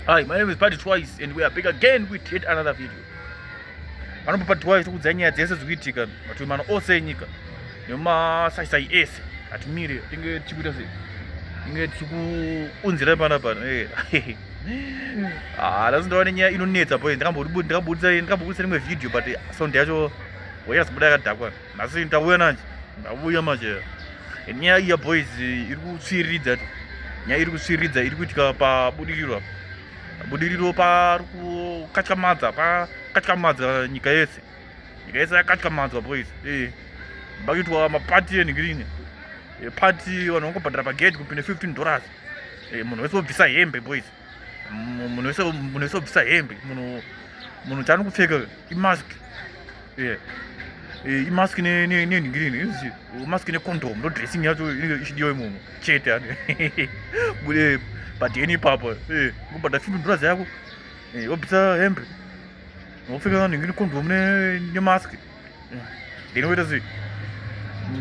Hi, my name is Party Twice and we are back again with yet another video. Panopa Party Twice tokudza nyaya dzese dzikuitika mativi mano ose enyika nemasaisai ese hatimire tinge tichikuita sei tinge tichikuunzira pana pano ah, lasi ndawane nyaya inonetsa boy ndakambobudisa ndakambobudisa rimwe video but sound yacho wayasi kubuda yakadhakwa nhasi ndauya nanje ndauya manje nyaya iya boys iri kutsviriridza tu nyaya iri kutsviriridza iri kuitika pabudiriro apa budiriro pari kukatyamadza pakatyamadza nyika yese nyika yese yakatyamadzwa boys ee pakuitwa mapati enhigirini pati vanhu vangobhadhara pagate kupinda 15 dollars munhu wese wobvisa hembe boys munhu wese munhu wese obvisa hembe munhu munhu chaano kupfeka imask e, imask nenhingirini mask necondom ndo dressing yacho ichidiwa imomo chete ani e, but eni ipapa e, ngobhadha fimbi ndurazi yako obvisa hembe wopfeka nhingi necondom nemask Ndino kuita sei?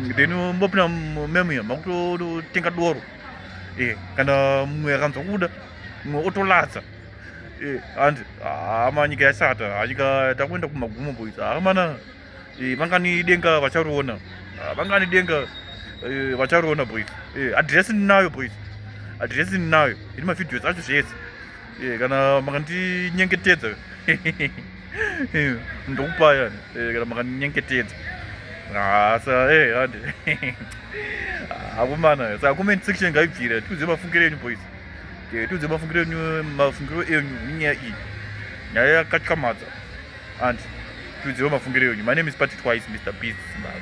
Ndino mbopinda mumemu iya makutotenga doro. Eh, kana mumwe akanzwa kuda mumwe otolatsa. Eh, and hama ah, nyika yashata, ah, nyika takuenda kumagumo boys. Hamana ah, eh, vangani denga vachariona. Vangani denga eh, vachariona boys. Eh, address ndinayo boys. Address ndinayo. Iri mavideos acho zvese. Eh, kana makandinyengetedza eh, ndokupaya eh, kana makandinyengetedza hasa hande akomana saka comment section ngaibvira tiudze mafungiro enyu boys tiudze mafungiro enyu mafungiro enyu nenyaya iyi nyaya yakatyamadza and tiudzewo mafungiro enyu my name is party twice mr beast zimbabwe